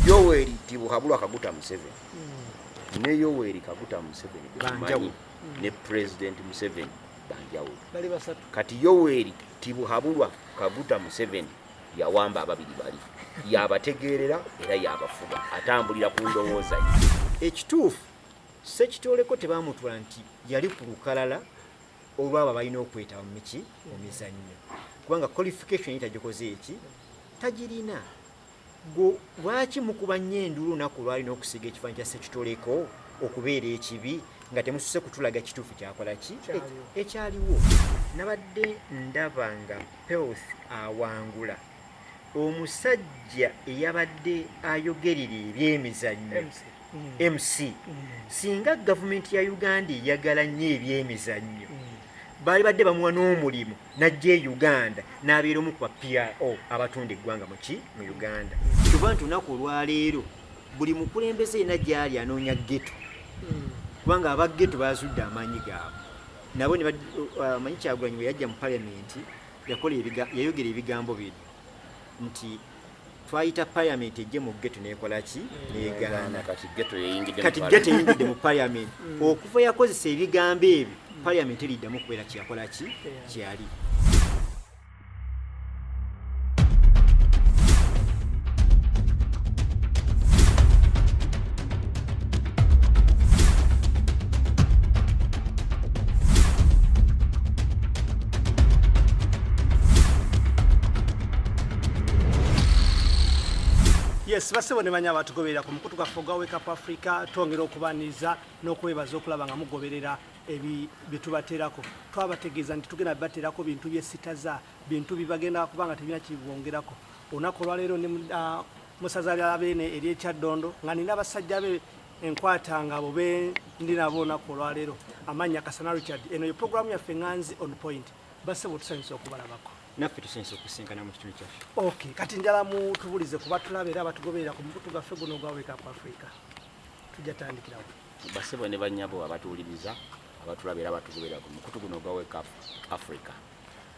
yoweri tibuhabulwa kaguta museveni hmm. ne yoweri kaguta museveni banjawulo hmm. ne president museveni banjawulo kati yoweri tibuhabulwa kaguta museveni yawamba ababiri bali yabategeerera era yabafuga atambulira ku ndowooza ye ekituufu sekitoleko tebamutula nti yali ku lukalala olwabo balina okwetaba mumiki mumizannyo kubanga qualification yitagikoze eki tagirina Ggwe lwaki mukuba nnyo enduulu olunaku olwali n'okusiiga ekifaananyi kya Ssekitoleko okubeera ekibi nga temususe kutulaga kituufu kyakola ki ekyaliwo? Nabadde ndaba nga Peoth awangula omusajja eyabadde ayogerera ebyemizannyo. mc singa gavumenti ya uganda eyagala nnyo ebyemizannyo baali badde bamuwa n'omulimu najja e uganda n'abeera omu kuba pro abatunda eggwanga muki mu uganda kuba nti olunaku olwaleero buli mukulembeze yena gyali anoonya geto kubanga aba geto bazudde amaanyi gaabwe nabo uh, manyi kyagulanyi bwe yajja mu palamenti yakola yayogera ebigambo bino nti twayita parliament ejje mu ghetto nekola ki negana kati ghetto yeyingide kati ghetto yeyingide mu parliament mm. okuva yakozesa ebigambo ebyo mm. parliament elida mu kwela ki yakola ki kiali yes basebo ne banya batugoberera ku mukutu gwaffe ogwa wake up africa twongera okubaniriza n'okwebaza okulaba nga mugoberera byetubateerako twabategeeza nti tugenda bibateerako bintu byesitaza bintu bibagenda kuba nga tebina kibwongerako olunaku olwaleero ne ah, musaza lya beene ery'ekyaddondo nga nina abasajja be enkwata nga bo be ndi nabo olunaku olwaleero amannya kasana richard eno ye programu yaffe nganzi on point basebo tusanyusa okubalabako naffe tusanyusa okusisinkana mu kitundu kyaffe ok kati njala mutubulize ku batulaba era abatugoberera ku mukutu gwaffe guno ogwa wake up africa tujja tandikirawo basebo ne banyabo abatuwuliriza abatulaba era abatugoberera ku mukutu guno ogwa wake up africa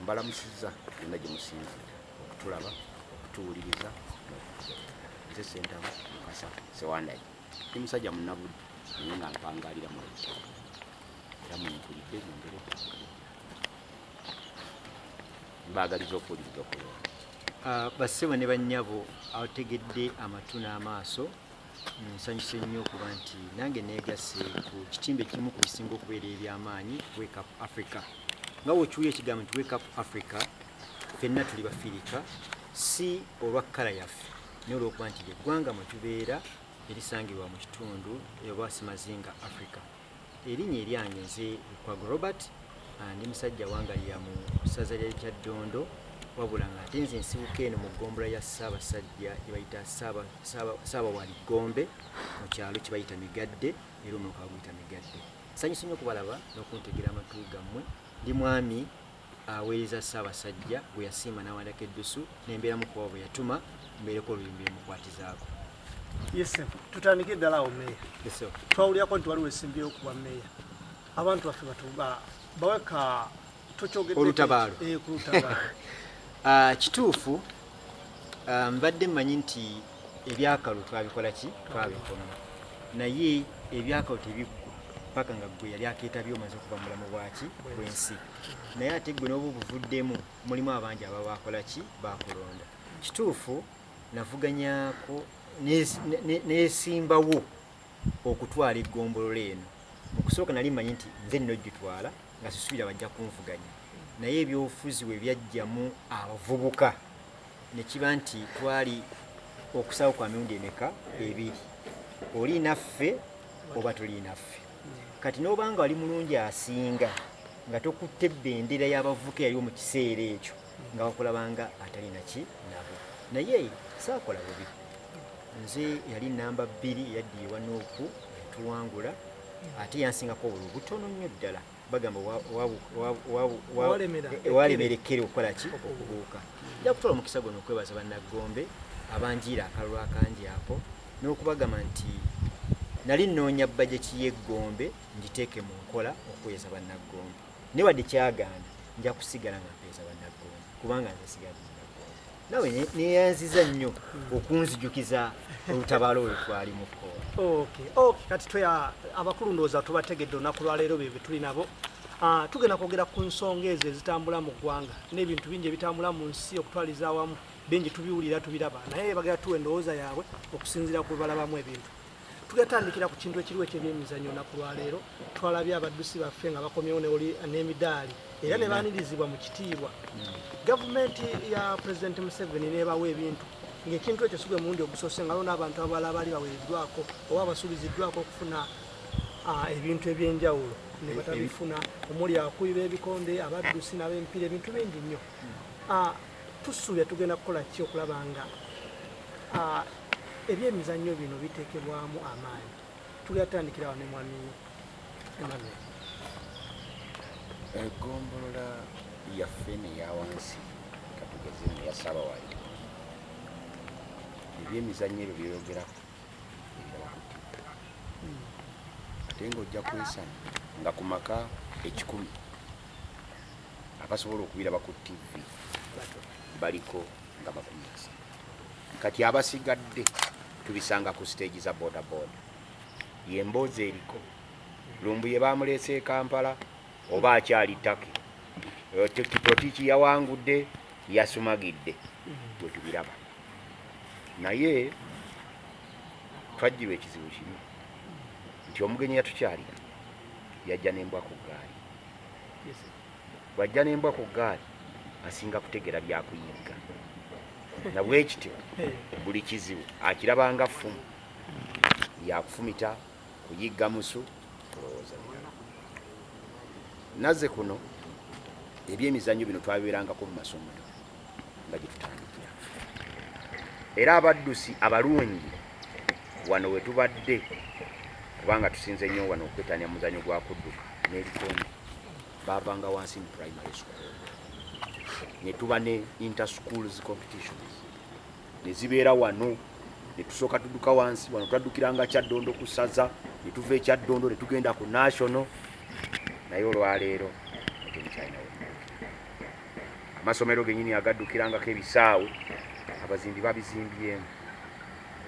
mbalamusiza yonna gye musinzira okutulaba okutuwuliriza nze sentamu mukasa sewandayi ndi musajja munabudde naye nga mpangalira mu era mwenkulidde nyombere mbaagaliza okuwuliriza okulungi ah, bassebo ne bannyabo abategedde amatu n'amaaso nsanyuse nnyo okuba nti nange neegasse ku kitimba ekimu ku bisinga okubeera eby'amaanyi wake up africa nga wokiwuya ekigambo nti wake up africa fenna tuli bafirika si olwa kkala yaffe naye olwokuba nti lyeggwanga mwe tubeera erisangibwa mu kitundu oba simazinga africa Erinnya eryange nze Lukwago Robert, ndi musajja Wangalira mu ssaza lya Kyaddondo wabula nga ate nze nsibuka eno mu ggombolola ya Ssaabasajja gye bayita Ssaabawali Ggombe mu kyalo kye bayita Migadde era omuluka baguyita Migadde. Nsanyuse nnyo okubalaba n'okuntegera amatu gammwe. Ndi mwami aweereza Ssaabasajja gwe yasiima n'awandiika eddusu ne mbeeramu kuba bwe yatuma mbeereko oluyimba emukwatizaako. Yese, tutandike ddala awo meeya. Yese. Twawulirako nti waliwo esimbyewo okuba meeya. Abantu baffe batuba bawe ka tokyogedde olutabaalo. Eh, ku lutabaalo. Ah, kituufu ah, mbadde mmanyi nti ebyakalu twabikola ki twabikoma naye ebyakalu tebiggwa paka nga gwe yali akeetabye omaze okuva mulamu bwaki bwensi naye ate gwe noba obuvuddemu mulimu abangi aba bakolaki bakulonda kituufu navuganyako nesimbawo okutwala egombolola eno mukusooka nali manyi nti nze nina ogitwala nga sisuubira bajja kunvuganya naye ebyobufuzi we byajjamu abavubuka ne kiba nti twali okusaawo kwa mirundi emeka ebiri oli naffe oba tuli naffe kati n'obanga wali mulungi asinga nga tokutte bendera y'abavuka eyaliwo mu kiseera ekyo nga wakulabanga atalina ki nabo naye saakola bubi nze yali namba bbiri yaddiye wanooku yatuwangula ate yansingako obululu butono nnyo ddala bagamba walemerekkere okukola ki okubuuka nja kutwala omukisa guno okwebaza bannaggombe abanjiira akalulu akangi ako n'okubagamba nti nali nnoonya bajeti y'eggombe ngiteeke mu nkola okuweeza bannaggombe naye wadde kyagaana nja kusigala nga mpeeza bannaggombe kubanga nze sigadde nawe neyanziza nnyo okunzijukiza olutabaalo olwo twalimu kati twe abakulu ndowooza tubategedde olunaku lwaleero bye betuli nabo ah, tugenda kwogera ku nsonga ezo ezitambula mu ggwanga n'ebintu bingi ebitambula mu nsi okutwaliza awamu bingi tubiwulira tubiraba naye bagera tuwa endowooza yaabwe okusinziira ku balabamu ebintu tugatandikira ku kintu ekiriwo ekyebyemizanyo naku lwaleero twalabye abaddusi baffe nga bakomyewo n'emidaali era ne baanirizibwa mu kitiibwa gavumenti ya pulezidenti museveni nebawa ebintu ngaekintu ekyo sigwe mulundi ogusoose nga lona abantu abala abaali bawereddwako oba abasuubiziddwako okufuna ebintu ebyenjawulo nebatabifuna omuli akuyiba ebikonde abaddusi nabempiira ebintu bingi nnyo Tusuubira tugenda kukola ki okulaba nga ebyemizannyo bino biteekebwamu amaanyi tugenda tutandikira wano mwami Emmanuel egombolola yaffe neyawansi katugeze neyasaba wali ebyemizannyo ebyo byeyogerako ate ngaojja kwesana nga ku maka ekikumi abasobola okubiraba ku tv baliko nga bakumisa kati abasigadde tubisanga ku stage za boda boda yemboozi eriko lumbuye bamuleese e kampala oba akyali taki totiki yawangudde yasumagidde wetubiraba naye twajjirwa ekizibu kimu nti omugenyi yatukyalira yajja nembwa ku gaali bwajja nembwa ku gaali asinga kutegera byakuyigga nabwekityo buli kizibu akirabanga ffumu yakufumita kuyigga musu kulowooza naze kuno ebyemizanyo bino twabiberangako mu masomero nga gye tutandikira era abaddusi abalungi wano we tubadde kubanga tusinze nnyo wano okwetanya muzanyo gwa kudduka n'ebikonde baavanga wansi mu primary school ne tuba ne interschools competitions ne zibeera wano ne tusooka tudduka wansi wano twaddukiranga kyaddondo ku saza ne tuva ekyaddondo ne tugenda ku national naye olwaleero amasomero genyini agaddukirangako ebisaawe abazimbi babizimbyemu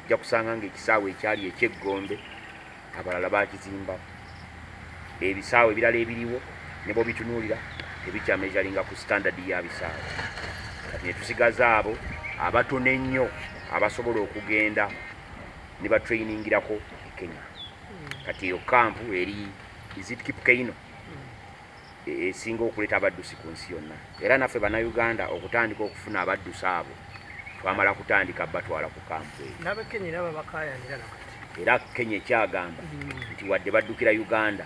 ojja kusanga nga ekisaawe ekyali ekyeggombe abalala bakizimbamu ebisaawe ebirala ebiriwo nebobitunuulira tebikyamezalinga ku standard ya bisaawe kati netusigaza abo abatono ennyo abasobola okugenda ne batrainingirako e kenya kati eyo kampu eri izitkipkeino esinga okuleta abaddusi ku nsi yonna era naffe banauganda okutandika okufuna abaddusi abo twamala kutandika batwala ku kampu era kenya ekyagamba hmm. nti wadde baddukira uganda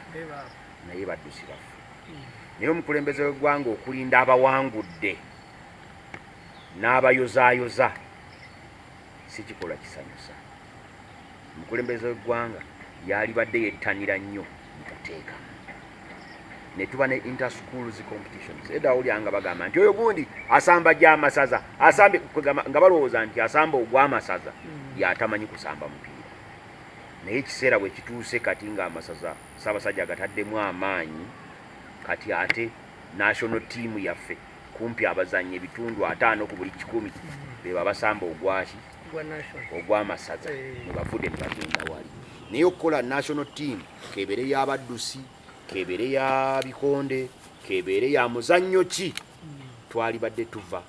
naye baddusi baffe hmm. naye omukulembeze wegwanga okulinda abawangudde n'abayozayoza si kikolwa kisanyusa. Omukulembeze w'eggwanga yaalibadde yettanira nnyo mu kuteeka ne tuba ne inter schools competitions edda awulira nga bagamba nti oyo gundi asamba gy'amasaza asambe nga balowooza nti asamba ogw'amasaza hmm. yatamanyi kusamba mupiira naye ekiseera bwe kituuse kati ng'amasaza ssaabasajja agataddemu amaanyi kati ate national tiimu yaffe Kumpi abazannyi ebitundu ataano ku buli kikumi be babasamba ogwaki ogw'amasaza ne bavude ne bagenda wali naye okukola national team kebeere y'abaddusi kebeere ya bikonde kebeere ya muzannyo ki twalibadde tuva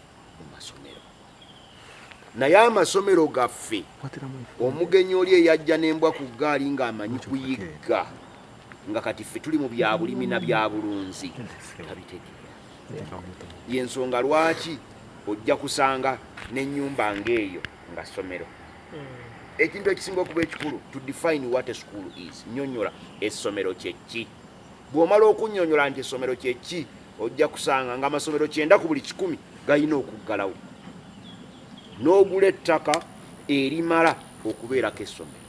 naye amasomero gaffe omugenyi oli eyajja n'embwa ku ggaali ng'amanyi kuyigga nga kati ffe tuli mu byabulimi na byabulunzi tabitegeera yensonga lwaki ojja kusanga n'ennyumba ng'eyo nga ssomero hmm. ekintu ekisinga okuba ekikulu to define what a school is nyonyola essomero kyekki Bw'omala okunnyonnyola nti essomero kye ki, ojja kusanga ng'amasomero kyenda ku buli kikumi galina okuggalawo n'ogula ettaka erimala okubeerako essomero.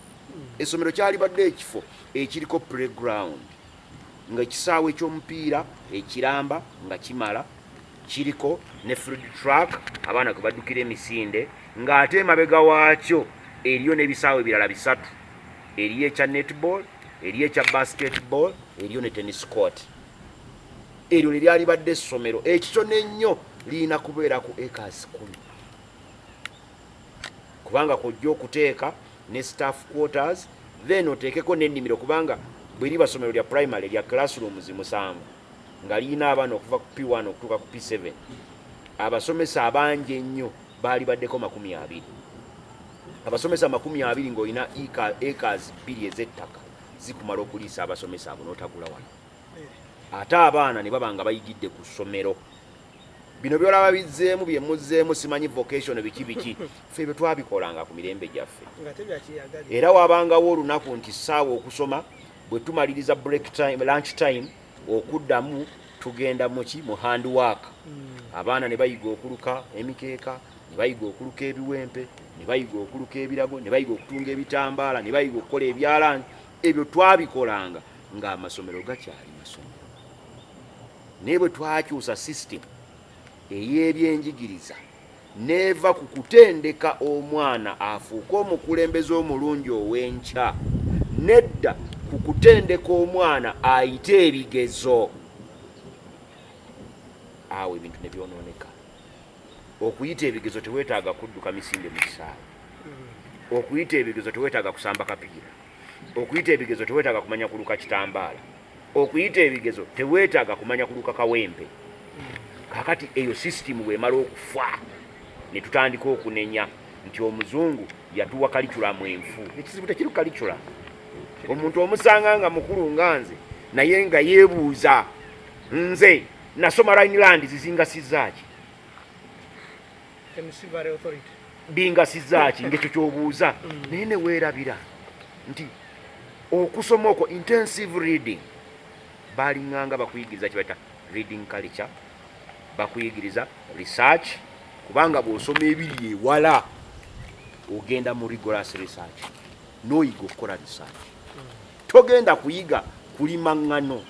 Essomero kyalibadde ekifo ekiriko playground ng'ekisaawe ky'omupiira ekiramba nga kimala Kiriko ne Food Truck abaana kwe baddukira emisinde ng'ate emabega waakyo eriyo n'ebisaawe ebirala bisatu. Eriyo ekya netball, eriyo ekya basketball, eriyo ne tennis court. Eryo lye lyalibadde essomero ekito n'ennyo lirina kubeera ku acres kumi kubanga kwojja okuteeka ne staff quarters then oteekeko n'ennimiro kubanga bwe liba ssomero lya primary lya classrooms musanvu nga lirina abaana okuva ku P1 okutuuka ku P7 abasomesa abangi ennyo baali baddeko makumi abiri abasomesa makumi abiri ng'olina ekazi bbiri ez'ettaka zikumala okuliisa abasomesa abo n'otagula wano ate abaana ne baba nga bayigidde ku ssomero bino byolaba bizzeemu bye muzzeemu simanyi vocation biki biki ffe bye twabikolanga ku mirembe gyaffe era wabangawo olunaku nti ssaawa okusoma Bwe tumaliriza break time, lunch time okuddamu tugenda muki mu hand work mm. abaana ne bayiga okuluka emikeeka ne bayiga okuluka ebiwempe ne bayiga okuluka ebirago ne bayiga okutunga ebitambaala ne bayiga okukola ebyalaani ebyo twabikolanga ng'amasomero gakyali masomero naye bwe twakyusa system ey'ebyenjigiriza n'eva ku kutendeka omwana afuuke omukulembeze omulungi ow'enkya n'edda ku kutendeka omwana ayite ebigezo awo ebintu ne byonooneka okuyita ebigezo teweetaaga kudduka misinde mu kisaawe okuyita ebigezo teweetaaga kusamba kapiira okuyita ebigezo teweetaaga kumanya kuluka kitambaala okuyita ebigezo tewetaaga kumanya kuluka kawempe kakati eyo sisitimu bwemala okufa netutandika okunenya nti omuzungu yatuwa kaliculamu enfu ekizibu tekiri kalicula omuntu omusanga nga mukulu nga nze naye nga yebuuza nze nasoma rhineland zizingasizaaki bingasiza ki ngekyo kyobuuza mm. naye neweerabira nti okusoma okwo intensive reading balinganga bakuyigiriza kibaita reading culture bakuyigiriza research kubanga bwosoma ebiri ewala ogenda mu rigorous research noyiga okukola research togenda kuyiga kulima ŋŋano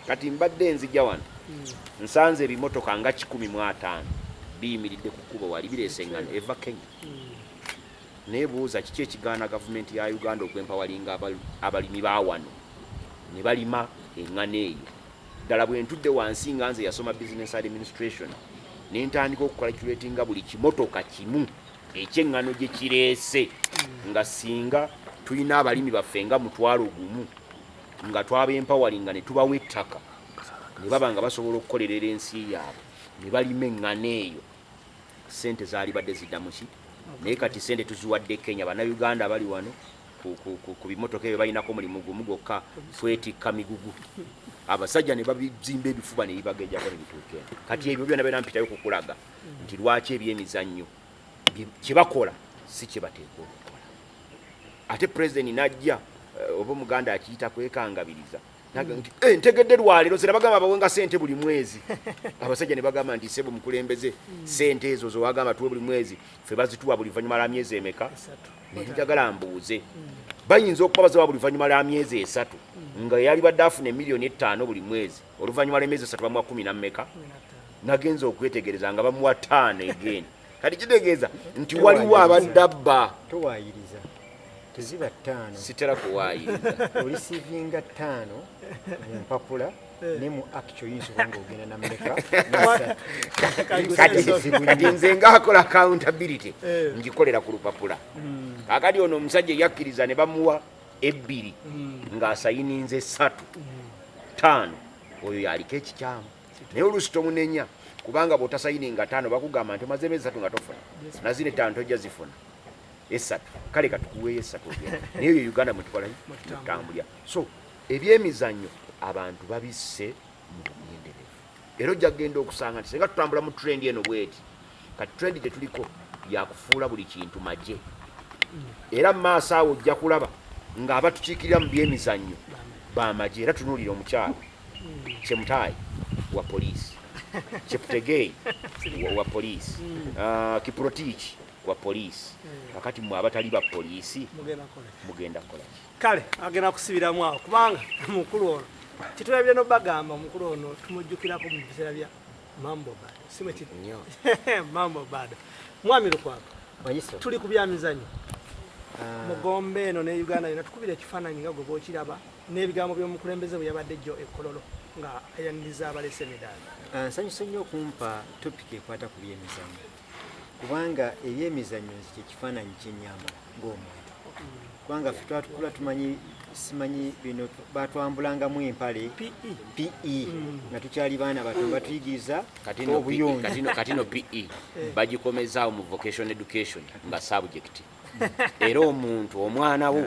kati mbadde nzija wano hmm. nsanze ebimotoka nga kikumi mu ataano biyimiridde ku kkubo wali bireese eŋŋano eva kenya hmm. nebuuza kiki ekigaana gavumenti ya uganda okwempawalinga abalimi ba wano ne balima eŋŋano eyo ddala bwe ntudde wansi nga nze yasoma business administration ne ntandika okukalculatinga buli kimotoka kimu ekyeŋŋano gye kireese nga singa tulina abalimi baffe nga mutwalo gumu nga twaba empawalinga ne tubawa ettaka ne baba nga basobola okukolerera ensi yaabwe ne balima eŋŋano eyo sente zaalibadde ziddamu ki naye kati sente tuziwadde kenya bannayuganda bali wano ku bimotoka ebyo balinako mulimu gumu gwokka twetikka migugu abasajja ne babizimba ebifuba ne bibagejako ne bituuka kati ebyo byona byona mpitayo kukulaga nti lwaki ebyemizannyo kyebakola si kyebateekwa okukola ate pulezidenti najja eh, oba omuganda akiyita kwekangabiriza nti eh, ntegedde lwaleero zera bagamba bawenga sente buli mwezi abasajja ne bagamba nti sebo mukulembeze sente ezo zewagamba tuwe buli mwezi fe bazituwa buli vanyuma la myezi emeka nenjagala mbuuze bayinza okuba bazawa buli vanyuma la myezi esatu nga yalibadde afuna emiliyoni ettaano buli mwezi oluvannyuma lw'emyezi esatu bamuwa kumi na mmeka nagenza okwetegereza nga bamuwa taano egeni kati kitegeeza nti waliwo abadde abba towayiriza teziba ttaano sitera kuwayiriza olisivinga ttaano mu mpapula ne mu actio yinza oba ngaogenda nameka kati nze ngaakola accountability eh. ngikolera ku lupapula hmm. kakati ono omusajja eyakkiriza ne bamuwa ebbiri mm. ng'asayininze esatu ttaano oyo yaliko ekikyamu naye oluusi tomunenya kubanga bwotasayininga taano bakugamba nti omaze emezi satu nga tofuna nazina ettaano tojja zifuna esatu kale katukuweeyo esatu naye oyo uganda mwetukolayo mutambulya so ebyemizannyo abantu babisse mu bugenderevu era ojja kugenda okusanga nti singa tutambula mu trend eno bweti kati trend gye tuliko yakufuula buli kintu magye era mu maaso awo ojja kulaba ng'abatukiikirira mu byemizannyo bamagye era tunuulira omukyalo kyemutaayi wa poliisi kyeputegeeyi wa poliisi hmm. ah, kiprotiiki wa poliisi hmm. kakati mwe abatali ba poliisi mugenda kukolaki kale agenda kusibiramu awo kubanga mukulu ono kitulabire nobagamba omukulu ono tumujjukirako mu biseera bya mambo bado simwe kiri mambo bado mwami lukwako tuli ku byamizanyo ah. mugombe eno ne uganda yona tukubira ekifaananyi nga gwe bwokiraba n'ebigambo by'omukulembeze bwe yabadde jjo ekololo nga ayaniriza abalese emidaali ah, nsanyusa nnyo okumpa topiki ekwata ku byemizanyo kubanga ebyemizannyo nze kyekifaananyi kyenyambala ng'omuntu kubanga ffe twatukula tumanyi simanyi bino batwambulangamu empale pe pe mm. nga tukyali baana bato batuyigiriza obuyonjokatino pe eh. bagikomezaawo mu vocation education nga subject era omuntu omwana wo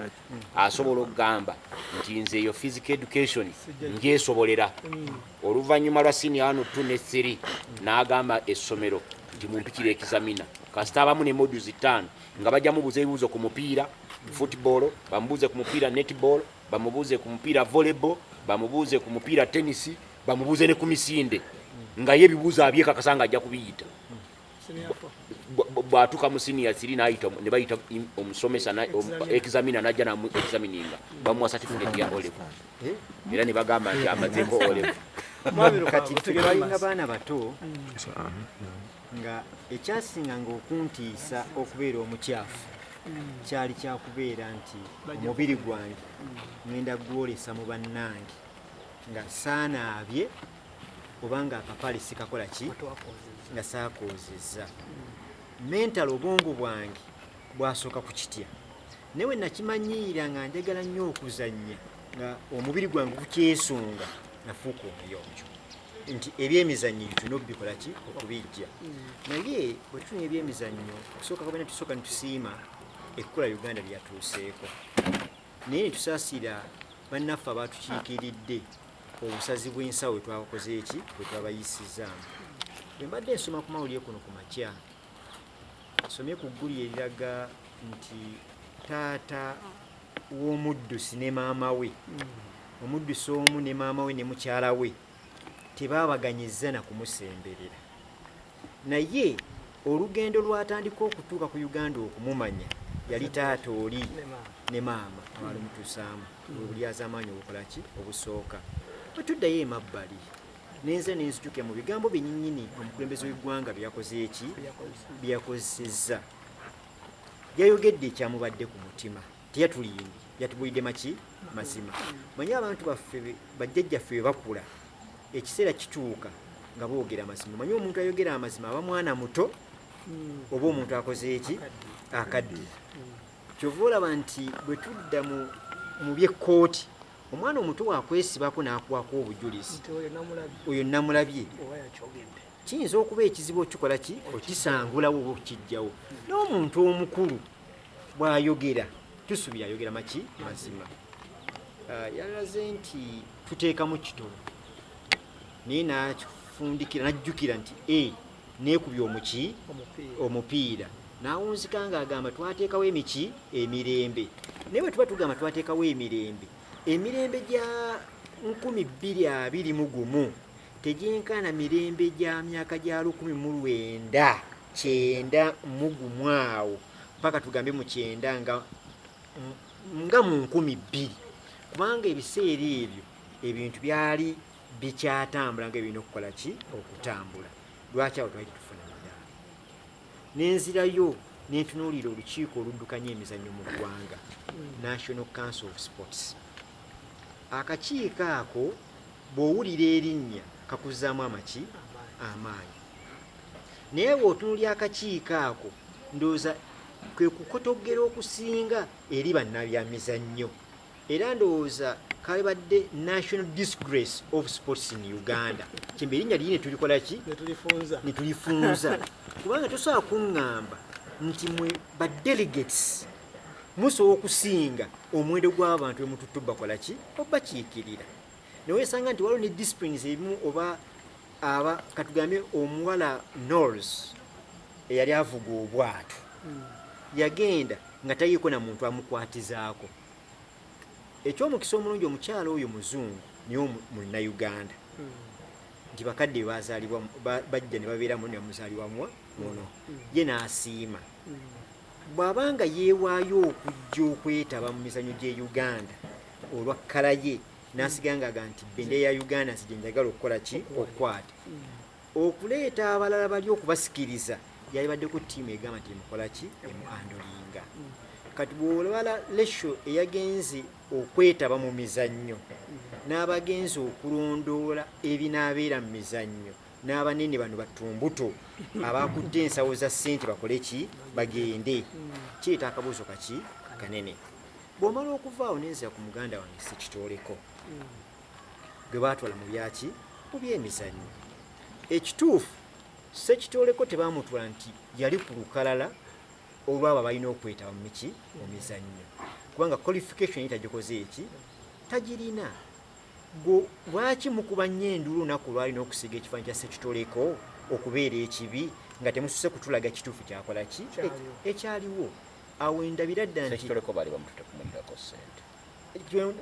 asobola okugamba nti nze eyo physical education njesobolera oluvannyuma lwa sini ano t ne thiri n'agamba essomero nti mumpikira ekizamina kasita abamu ne modu zitaano nga bajja mubuuza ebibuuzo ku mupiira football bamubuuze ku mupiira netball bamubuuze ku mupiira volleyball bamubuuze ku mupiira tenisi bamubuuze ne ku misinde ngaye ebibuuzo abyekakasa nga ajja kubiyita bwatuka mu senior 3 nayita ne bayita omusomesa na examiner najja na mu examininga bamuwa certificate ya olive era ne bagamba nti amazeko olive kati tulinga baana bato nga ekyasinga nga okuntiisa okubeera omukyafu kyali kyakubeera nti omubiri gwange ngenda gwolesa mu bannange nga saanaabye obanga akapaali sikakola ki nga saakoozezza mentalo obwongo bwange bwasooka ku kitya naye we nakimanyiira nga njagala nnyo okuzannya nga omubiri gwange gukyesunga nafuuka omuyonjo nti ebyemizannyo bituna obikola ki okubijja naye bwe tufuna ebyemizannyo okusooka kabana tusooka nitusiima ekkola uganda lyatuuseeko naye netusaasira bannaffe abatukiikiridde obusazi bw'ensawo bwe twabakoze eki bwe twabayisizzaamu bwe mbadde nsoma ku mawulire kuno ku makya nsomye ku gguli eriraga nti taata w'omuddusi ne maama we hmm. omuddusi omu ne maama we ne mukyala we tebaabaganyizza na kumusemberera Naye olugendo lwatandika okutuuka ku Uganda okumumanya yali taata oli ne maama abalimutuusaamu obulyazaamaanyi obukola ki obusooka bwe tuddayo emabbali nenze nenzijuke mu bigambo byenyinyini omukulembeze w'eggwanga byeyakoze eki byeyakozesezza yayogedde ekyamubadde ku mutima teyatulimbye yatubulidde maki mazima manyi abantu baffe bajjajjaffe bwe bakula ekiseera kituuka nga boogera amazima manyi omuntu ayogera amazima aba mwana muto hmm. oba omuntu akoze eki akadde kyova olaba nti bwe tudda mu byekkooti omwana omuto wakwesibako n'akwako obujulizi oyo namulabye kiyinza okuba ekizibu okikola ki okisangulawo oba okukijjawo n'omuntu omukulu bwayogera tusubira ayogera maki mazima ah, yalaze nti tuteekamu kitono naye nakifundikira najjukira nti e nekubya omuki omupiira nawunzika nga agamba twateekawo emiki emirembe naye bwetuba tugamba twateekawo emirembe emirembe gya nkumi bbiri abiri mu gumu tegyenkana mirembe gya myaka gya lukumi mu lwenda kyenda mugumu awo mpaka tugambe mu kyenda nga nga mu nkumi bbiri kubanga ebiseera ebyo ebintu byali bikyatambula nga ebirina okukola ki okutambula lwaki awo twali tetufuna madaala nenzirayo nentunuulira olukiiko oluddukanya emizannyo mu ggwanga national council of sports akakiiko ako bw'owulira erinnya kakuzaamu amaki amaanyi naye bwotunulya akakiiko ako ndowooza kwe kukotoggera okusinga eri bannabyamizannyo era ndowooza kalibadde national disgrace of sports in uganda kyemba erinnya liri netulikolaki netulifunza kubanga tosobola kuŋŋamba nti mwe badelegates musobola okusinga omuwendo gw'abantu bemututtu bakola ki obakiikirira newesanga nti waliwo ne disciplines ebimu oba aba katugambye omuwala nors eyali avuga obwato hmm. yagenda nga tayiiko na muntu amukwatizaako ekyomukisa omulungi omukyala oyo muzungu niyo munauganda hmm. nti bakadde bazalibwa bajja ne babeeramu nemuzalibwa muwa muno hmm. ye n'asiima bw'aba nga yeewaayo okujja okwetaba mu mizanyo gy'e uganda olwa kkala ye nasigangaga nti bendera ya uganda nsi gyenjagala okukola ki okukwata okuleeta abalala bali okubasikiriza yalibaddeko tiimu egamba nti emukola ki emu andolinga kati bwolabala lesho eyagenze okwetaba mu mizannyo n'abagenzi okulondoola ebinaabeera mu mizannyo n'abanene bano batumbuto abakutte ensawo za ssente bakole ki bagende kireeta akabuuzo kaki kanene bw'omala okuva awo nenzira ku muganda wange sekitooleko gwe baatwala mu byaki mu byemizannyo ekituufu sekitooleko tebaamutwala nti yali ku lukalala olwabo abalina okwetaba mu miki mu mizannyo kubanga qualification ye tagikoze eki tagirina lwaki mukuba nnyo enduulu olunaku olwali n'okusiga ekifaanyi kya sekitooleko okubeera ekibi nga temususe kutulaga kituufu kyakola ki ekyaliwo e, awo wendabira ddala nti kitoleko bali bamutute kumulirako sente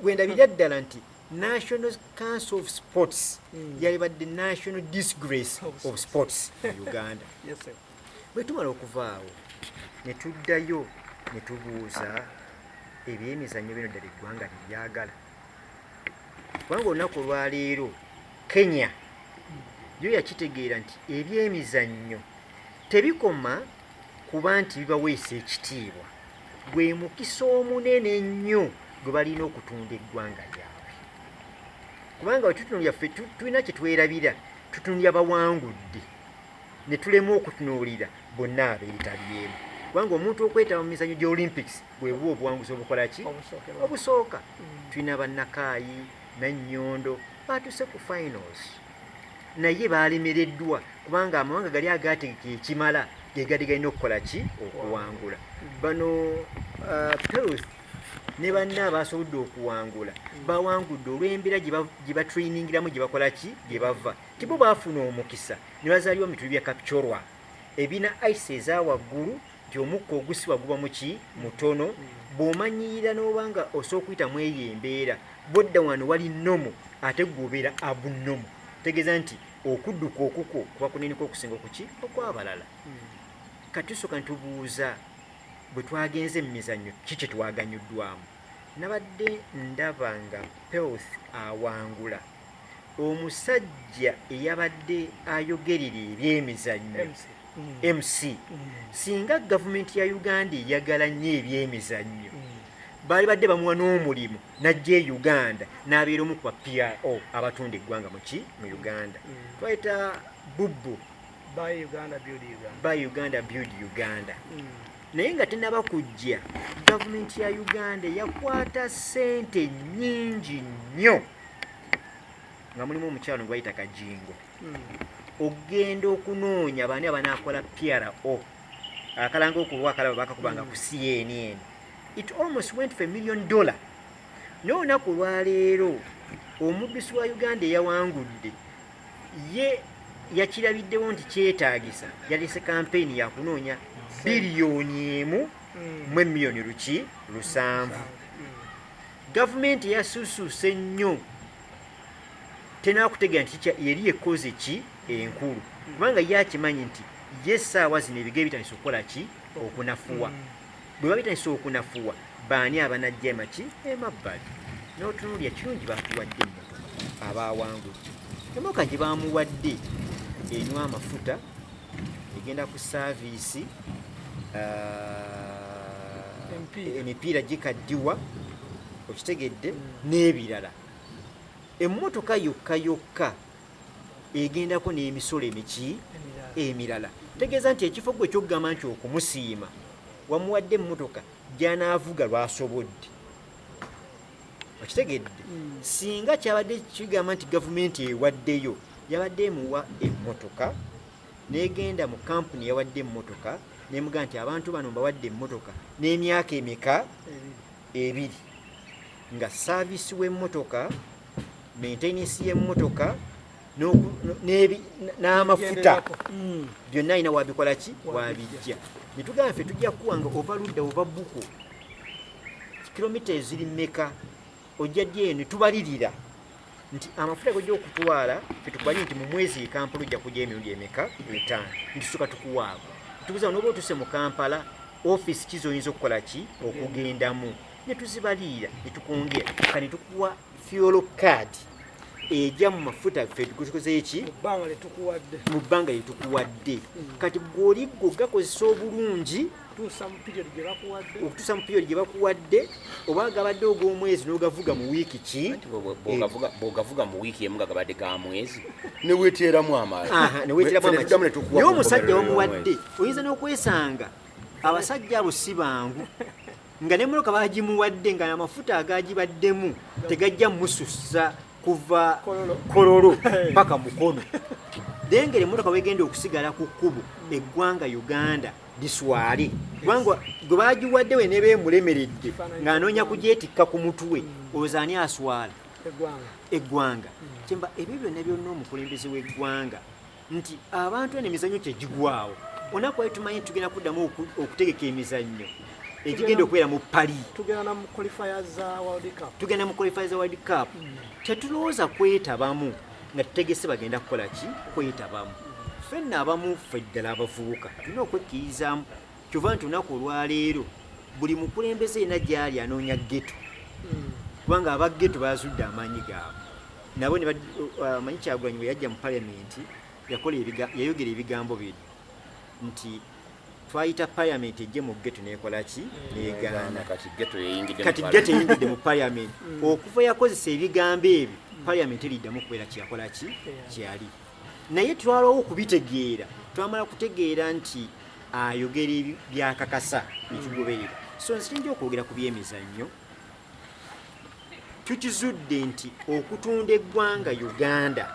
wendabira ddala nti national council of sports mm. yalibadde national disgrace of sports mu uganda yes, bwe tumala okuvaawo ne tuddayo ne tubuuza ebyemizannyo bino ddala eggwanga lyebyagala kubanga olunaku olwaleero kenya yo yakitegeera nti ebyemizannyo tebikoma kuba nti bibaweesa ekitiibwa gwe mukisa omunene ennyo gwe balina okutunda eggwanga lyabwe kubanga wetutunulira ffe tulina kye twerabira tutunulira bawangudde ne tulema okutunuulira bonna abeetabyemu kubanga omuntu okwetaba mu mizanyo gya olympics bwebuba obuwanguzi obukola ki obusooka mm. tulina bannakaayi nannyondo baatuse ku finals naye baalemereddwa kubanga amawanga gali agaategeka ekimala ge gadi galina okukola ki okuwangula bano uh, perus ne banna abasobodde okuwangula bawangudde olw'embeera gye batrainingiramu gye bakola ki gye bava tibo baafuna omukisa ne bazaalibwa mu bituli bya kapcorwa ebina ice eza waggulu nti omukka ogusibwa guba muki mutono bw'omanyiira n'oba nga osobola okuyita mu eyo embeera bwodda wano wali nomu ate gwobeera abunomu tegeeza nti okudduka okukwo kuba kunenika okusinga okuki okwabalala hmm. katusoka ntubuuza bwe twagenze mu mizannyo ki kye twaganyuddwamu nabadde ndaba nga pelth awangula uh, omusajja eyabadde ayogerera ebyemizannyo mc singa gavumenti ya uganda eyagala nnyo ebyemizannyo baali badde bamuwa n'omulimu najja e uganda n'abeera omu kuba pro abatunda eggwanga muki mu uganda twayita bubbu Buy Uganda, build Uganda. Buy Uganda, build Uganda. Mm. naye nga tenaba kujja gavumenti ya uganda yakwata sente nyingi nnyo nga mulimu omukyalo ngwayita kajingo mm. okugenda okunoonya baani abanaakola pro akalanga okulwa akalaba bakakubanga mm. ku cnn it almost went for a million dollar naye olunaku olwaleero omubisi wa uganda eyawangudde ye yakirabiddewo nti kyetaagisa yalese kampeyini yakunoonya biriyoni emu hmm. mu emiliyoni luki lusanvu hmm. gavumenti yasusuuse nnyo tenakutegera nti yeri ekoze ki enkulu hmm. kubanga ye akimanyi nti ye essaawa zino ebiga ebitandisa okukola ki okunafuwa Bwe babitandisa okunafuwa, baani abanajja emaki emabbali n'otunuulira kirungi baatuwadde emmotoka abaawangudde. Emmotoka gye baamuwadde enywa amafuta, egenda ku saaviisi, emipiira gikaddiwa okitegedde n'ebirala emmotoka yokka yokka egendako n'emisolo emiki emirala tegeeza nti ekifo gwe kyokugamba nti okumusiima wamuwadde emmotoka gyanaavuga lwasobodde okitegedde hmm. singa kyabadde kigamba nti gavumenti ewaddeyo yabadde emuwa emmotoka negenda mu kampuni yawadde emmotoka nemuga nti abantu bano mbawadde emmotoka n'emyaka emeka ebiri nga saavisi w'emmotoka maintenance y'emmotoka n'amafuta mm. byonna alina wabikola ki wabijja netugamba ffe tujja kuwa nga ova ludda ova buku kilomita eziri meka ojja ddi eno tubalirira nti amafuta gojja okutwala fetukubali nti mu mwezi ekampala ojja kujja emirundi emeka etaano ntusuka tukuwaako tukuza noba otuse mu kampala ofisi kizoyinza okukola ki okugendamu ne tuzibaliira ne tukwongera ka ne tukuwa fuel card eja mu mafuta ffe tukozeko ki mu bbanga lye tukuwadde mu bbanga lye tukuwadde hmm. kati gw'oli gwo gakozesa obulungi okutuusa mu piriodi gye bakuwadde oba agabadde og'omwezi n'ogavuga mu wiiki ki bw'ogavuga mu wiiki emu nga gabadde ga mwezi neweteeramu amaanineweteeramu naye omusajja wamuwadde oyinza n'okwesanga abasajja abo si bangu nga nemotoka bagimuwadde nga amafuta agagibaddemu tegajja mususa kuva kololo paka mukono dengere emotoka wegenda okusigala ku kkubo eggwanga uganda biswale kubanga gwe bagiwadde we neba emulemeredde ng'anoonya kugyetikka ku mutwe olowooza ani aswala eggwanga kyemba ebyo byonna byonna omukulembeze w'eggwanga nti abantu eno emizannyo kyegigwawo onaku wali tumanyi nti tugenda kuddamu okutegeka emizannyo egigenda okubeera mu pali tugenda mu qualifier za world cup hmm. tetulowooza kwetabamu nga tutegese bagenda kukola ki kwetabamu fenna abamu ffe ddala abavubuka tulina okwekkirizamu kyova nti olunaku olwaleero buli mukulembeze yena gyali anoonya geto hmm. kubanga aba geto bazudde amaanyi gaabwe nabo manyi kyagulanyi bwe yajja mu palamenti yayogera ebigambo bino nti twayita parliament ejje mu geto nekola ki hmm. negaana kati geto eyingidde mu parliament hmm. okuva yakozesa ebigambo ebyo parliament eriddamu kubeera kyeyakola ki kyeyali naye twalawo okubitegeera twamala kutegeera nti ayogera byakakasa nekigoberera so nsinja okwogera ku byemizannyo tukizudde nti okutunda eggwanga uganda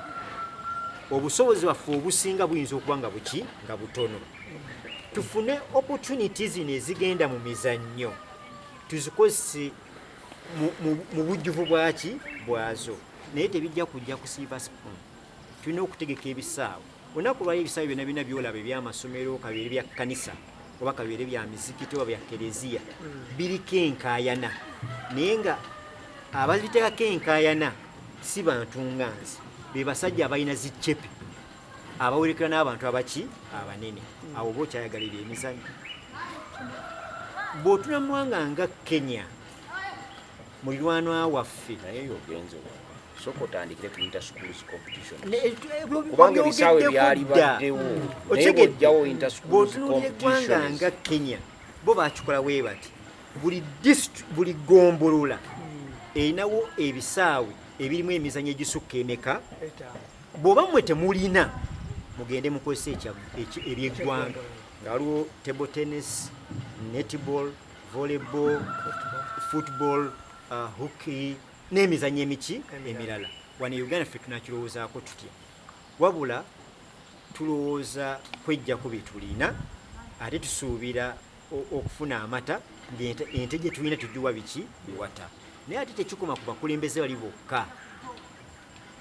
obusobozi bwaffe obusinga buyinza okuba nga buki nga butono tufune opportunity zino ezigenda mu mizannyo tuzikozese mu bujjuvu bwaki bwazo naye tebijja kujja kusiiva spoon tulina okutegeka ebisaawo Olunaku lwayo ebisaawe byonna birina byolaba ebyamasomero kabeere bya kkanisa oba kabeere bya mizikiti oba bya kereziya hmm. biriko enkaayana naye nga ababiteekako enkaayana si bantu nga nze be basajja abalina ziccepe abawerekera n'abantu abaki abanene hmm. awo oba okyayagalira emizanyo bw'otunamwanga nga kenya mulirwanwa waffe naye yogenze soka otandikire ku inter schools competition eh, kubanga ebisaawe byali baddewo naye bwojjawo inter schools competition nga kenya bo bakikola webati buli district buli gombolola erinawo ebisaawe ebirimu emizanyo egisukka emeka bwoba mwe temulina mugende mukozesa ebyeggwanga nga waliwo table tennis netball volleyball football uh, hockey n'emizanyo emiki emirala wano e uganda ffe tunakirowoozaako tutya wabula tulowooza kwejjako byetulina ate tusuubira okufuna amata ente gyetulina tugiwa biki biwata naye ate tekikoma ku bakulembeze bali bokka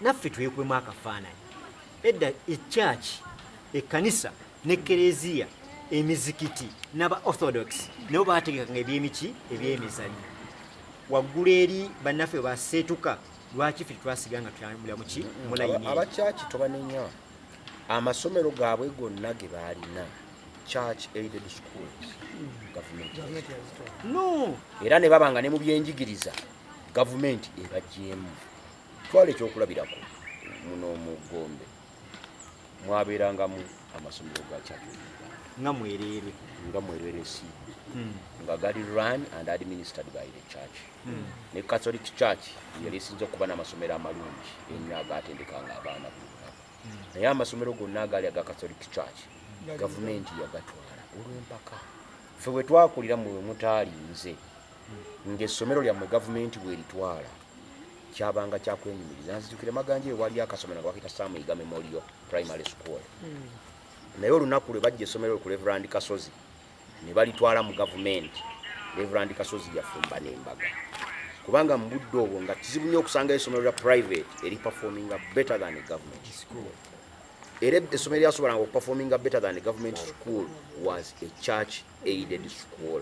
naffe twekubemu akafaananyi edda ekyaki ekkanisa ne kereziya emizikiti naba orthodox nabo bategekanga ebyemiki ebyemizanyo waggulu eri bannaffe baseetuka lwaki fe twasiga nga tuyambula muki mulayini abakyaki tobanenya amasomero gaabwe gonna ge baalina church aided schools no era ne baba nga ne mu byenjigiriza gavumenti ebagyemu twala ekyokulabirako muno mu gombe mwabeerangamu amasomero ga catholic nga mwereere nga mwereere si hmm. nga gali run and administered by the church hmm. ne catholic church yali esinza okuba n'amasomero amalungi ennyo agaatendekanga abaana bonna hmm. naye amasomero gonna agaali aga catholic church gavumenti yagatwala olw'empaka ffe bwe twakulira mu mutaali nze ng'essomero lyammwe gavumenti bw'eritwala kyabanga kyakwenyumiriza nzijukire maganja eyo waaliyo akasomero nga bakita samuyiga memorial primary school hmm. naye olunaku lwe bajja essomero ku reverand kasozi ne balitwala mu gavumenti reverand kasozi yafumba n'embaga kubanga mu budde obwo nga kizibu nnyo okusangayo essomero lya private eri performinga better than a government school era essomero lyasobolanga okuperforminga better than a government school was a church aided school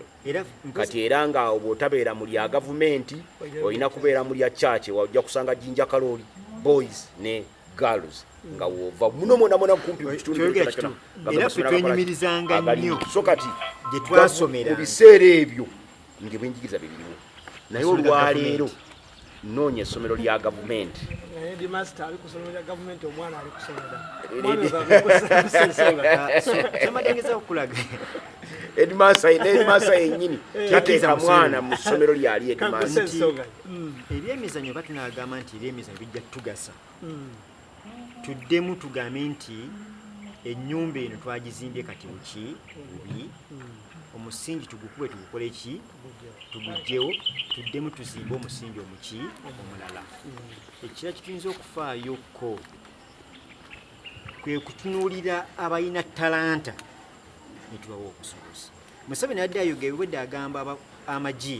kati era nga awo bwotabeera mu lya gavumenti olina kubeera mu lya church wajja kusanga jinja kalooli boys ne girls nga wova muno mwona mwona kumpi mukitunduyimirizanga nyo so kati mu biseera ebyo ngebwenjigiriza bebiriwo naye olwaleero noonya essomero lya gavumenti edmasa yenyini eh. tateeka mwana mu ssomero lyali edmasa hmm. ebyemizanyo batunagamba nti ebyemizanyo bijja tugasa hmm. tuddemu tugambe nti ennyumba eno twagizimbye kati buki bubi omusingi tugukube tugukole ki tugugyewo tuddemu tuzimbe omusingi omuki omulala ekira kituyinza okufaayo ko kwe kutunuulira abalina talanta netubawa obusobozi museveni adde ayogera obwedde agamba amagi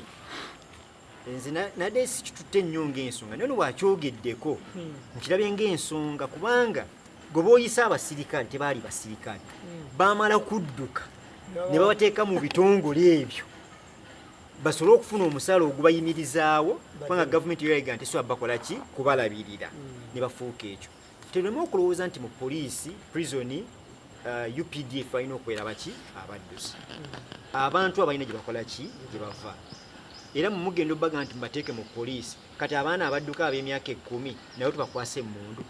nze nade sikitutte nnyo ngaensonga naye nowakyogeddeko hmm. nkirabye ngaensonga kubanga gwe boyise abasirikale tebaali basirikale hmm. bamala kudduka ne babateeka mu bitongole ebyo basobole okufuna omusaala ogubayimirizaawo kubanga gavumenti yoyaga nti siwa bakola ki kubalabirira hmm. ne bafuuka ekyo Tuleme okulowooza nti mu poliisi, prisoni, uh, eh, UPDF balina okwera baki abaddusi. Abantu abalina gye bakola ki gye bava era mumugenda obaga nti mbateeke mu poliisi kati abaana abadduka ab'emyaka ekkumi nawe tubakwasa emmundu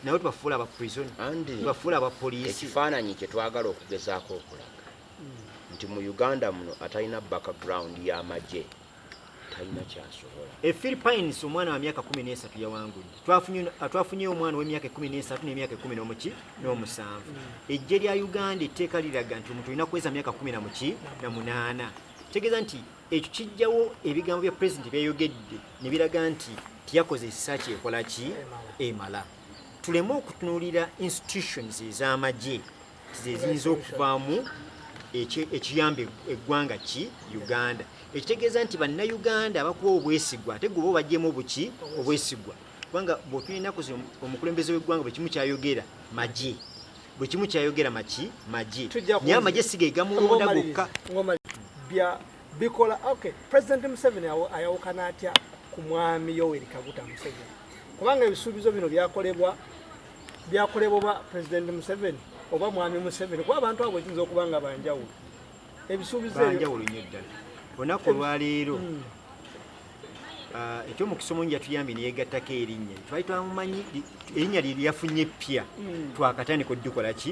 nawe tubafuula aba prison tubafuula aba poliisi ekifaananyi kye twagala okugezaako okulaga nti mu uganda muno atalina background y'amagye E Philippines omwana wa myaka 13 yawangudde. Twafunyeyo omwana ow'emyaka 13 n'emyaka 11 n'omusanvu. Eggye lya Uganda etteeka liraga nti omuntu olina kuweza myaka 19 na munaana. Kitegeeza nti ekyo kijjawo ebigambo bya pulezidenti byeyogedde ne biraga nti tiyakoze ekisa kyekola ki emala. Tuleme okutunuulira institutions ez'amagye zeziyinza okuvaamu ekiyamba eggwanga ki uganda ekitegeeza nti bannayuganda abakuwa obwesigwa ate gwe oba obajjemu obuki obwesigwa kubanga bwotuna enaku zino omukulembeze w'eggwanga buli kimu kyayogera magye buli kimu kyayogera maki magye naye amagye sigegamulonda gokka bikola okay president museveni ayawukana atya ku mwami yoweri kaguta museveni kubanga ebisuubizo bino byakolebwa byakolebwa oba pulezidenti museveni oba mwami museveni kuba abantu abo ekiyinza okuba nga banjawulo ebisuubizo banjawulo nyo ddala olunaku olwaleero hmm. ah, ekyomukisa omungi yatuyambye neyegattako erinnya twali twamumanyi erinnya lye lyafunye eppya hmm. twakatandika odukola ki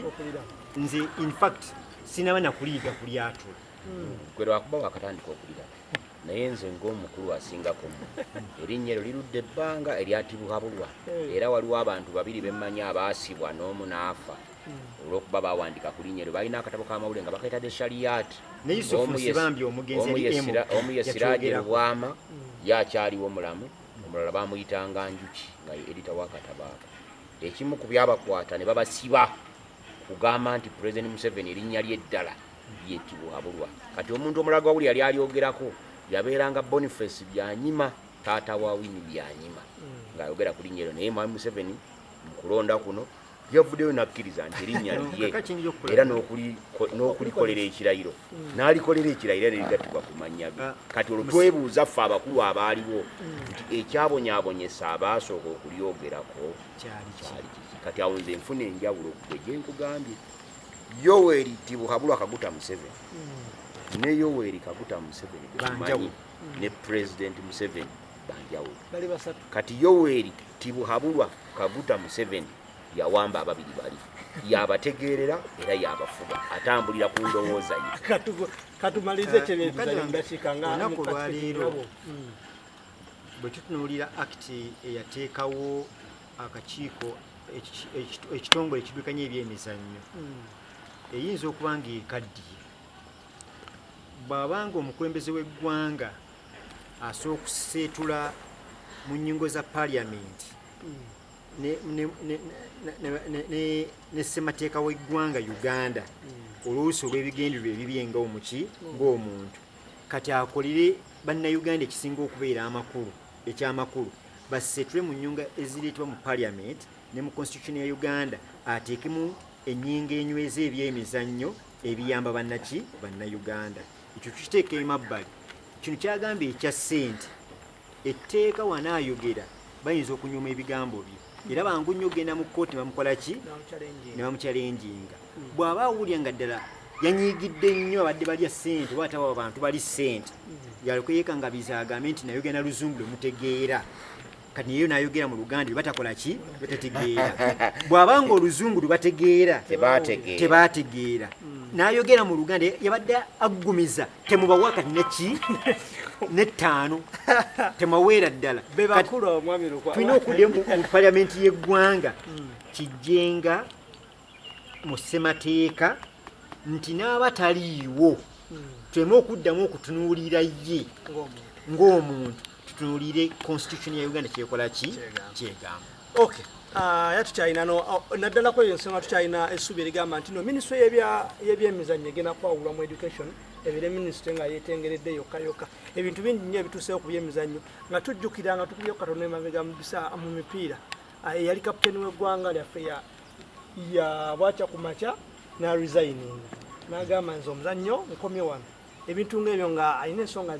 nze infact sinaba nakuliiga kulyatula hmm. gwe lwakuba wakatandika okulira naye nze ng'omukulu asingako mu erinnya eryo lirudde ebbanga eryatibuhabulwa hmm. era waliwo abantu babiri bemmanyi abaasibwa n'omu n'afa hmm. olwokuba bawandika ku linnya eryo balina akatabo k'amawulire nga bakaita de shaliyati omu ye siraje lubwama hmm. yakyaliwo mulamu omulala bamuyitanga njuki nga edita wakatabaako ekimu ku byabakwata ne babasiba kugamba nti president museveni erinnya lye eddala ye tibuhaburwa kati omuntu omulala gwawuli yali alyogerako yabeeranga boniface byanyima taata wa wini byanyima hmm. ng'ayogera ku linnya eryo naye mwami museveni mu kulonda kuno yavuddeyo nakkiriza nti erinnya liye era n'okulikolera ekirayiro hmm. n'alikolera ekirayiro era nerigattibwa ku mannya ge ah. kati olwo twebuuza ffe abakulu abaaliwo hmm. nti ekyabonyabonyesa abaasooka okulyogerako kyali kati awo nze nfuna enjawulo gwe gyenkugambye yoweri tibuhabulwa kaguta museveni hmm. ne yoweri kaguta museveni banjawulo hmm. ne president museveni banjawulo kati yoweri tibuhabulwa kaguta museveni yawamba ababiri bali yabategeerera era yabafuga atambulira ku ndowooza ye katumalize kyebyetuzanyumudakikangaaku lwaleero hmm. bwe tutunuulira akiti eyateekawo akakiiko ekitongole ekidukanya ebyemizannyo hmm. eyinza okuba nga ekaddiye bw'abanga omukulembeze w'eggwanga asobola okuseetula mu nnyingo za paliyamenti ne ssemateeka w'eggwanga uganda oluusi olw'ebigendererwa ebibye nga omuki ng'omuntu kati akolere bannayuganda ekisinga okubeera amakulu Ekyamakulu baseetule mu nnyunga ezireetebwa mu Parliament ne mu Constitution ya Uganda ateekemu ennyingo enyweza eby'emizannyo ebiyamba bannaki bannayuganda. Ekyo tukiteeka emabbali. Kino kyagambye ekya ssente etteeka wanaayogera bayinza okunyooma ebigambo bye. era bangu nnyo okugenda mu kkooti bamukola ki ne bamukyalenjinga bw'aba awulira nga ddala yanyiigidde nnyo abadde balya ssente oba atawa abantu bali ssente yaleko yeekangabiza agambe nti nayogera na luzungu lwe mutegeera kati naye nayogera mu luganda batakola ki batategeera bw'aba nga oluzungu lwe bategeera tebaategeera nayogera mu luganda yabadde aggumiza temubawa kanaki nettaano temaweera ddala tulina okudde mu paliamenti y'eggwanga hmm. kijjenga mu ssemateeka nti n'aba taliiwo hmm. tuleme okuddamu okutunuulira ye ng'omuntu tutunulire constitution ya uganda kyekola ki kyegamba okay ah, ya tukyalina no oh, naddala kweyo ensonga tukyalina essuubi erigamba nti no minisitry yebyemizannyo egenda kwawulwa mu education ebire minisitry nga yetengeredde yokka yokka ebintu bingi nyo ebituusewo ku byemizannyo nga tujjukira nga tukubye katonda emabega mubisa mu mipiira ah, eyali kaputeni w'eggwanga lyaffe ya bwakya ku makya na resigning nagamba nze omuzannyo nkomye wano ebintu ng'ebyo nga alina ensonga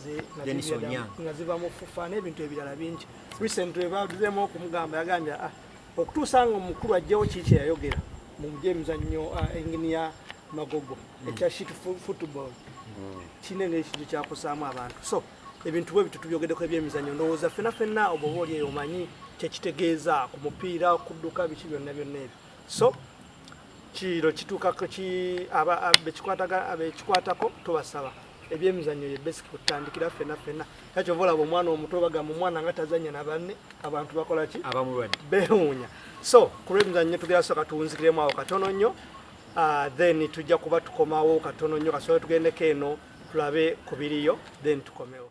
nga ziva mu fufa n'ebintu ebirala bingi recently baduzeemu okumugamba yagambye ah, okutuusa nga omukulu ajjewo kii kyeyayogera mu byemizannyo ah, enginiya magogo hmm. ekya shit football hmm. kiina engeri kintu kyakusaamu abantu so ebintu bwe bitu tubyogedeko ebyemizannyo ndowooza fena fena obwo oba oli eyo omanyi kyekitegeeza ku mupiira okudduka biki byonna byonna ebyo so kiro kituuka bekikwatako tubasaba ebyemizannyo ye basic kutandikira fena fena kyakyova olaba omwana omuto bagamba omwana nga tazanya nabanne abantu bakolaki bewuunya so ku lwemizannyo tugera soka tuwunzikiremu awo katono nnyo ah, then tujja kuba tukomawo katono nnyo kasobola tugendeko eno tulabe ku biriyo then tukomewo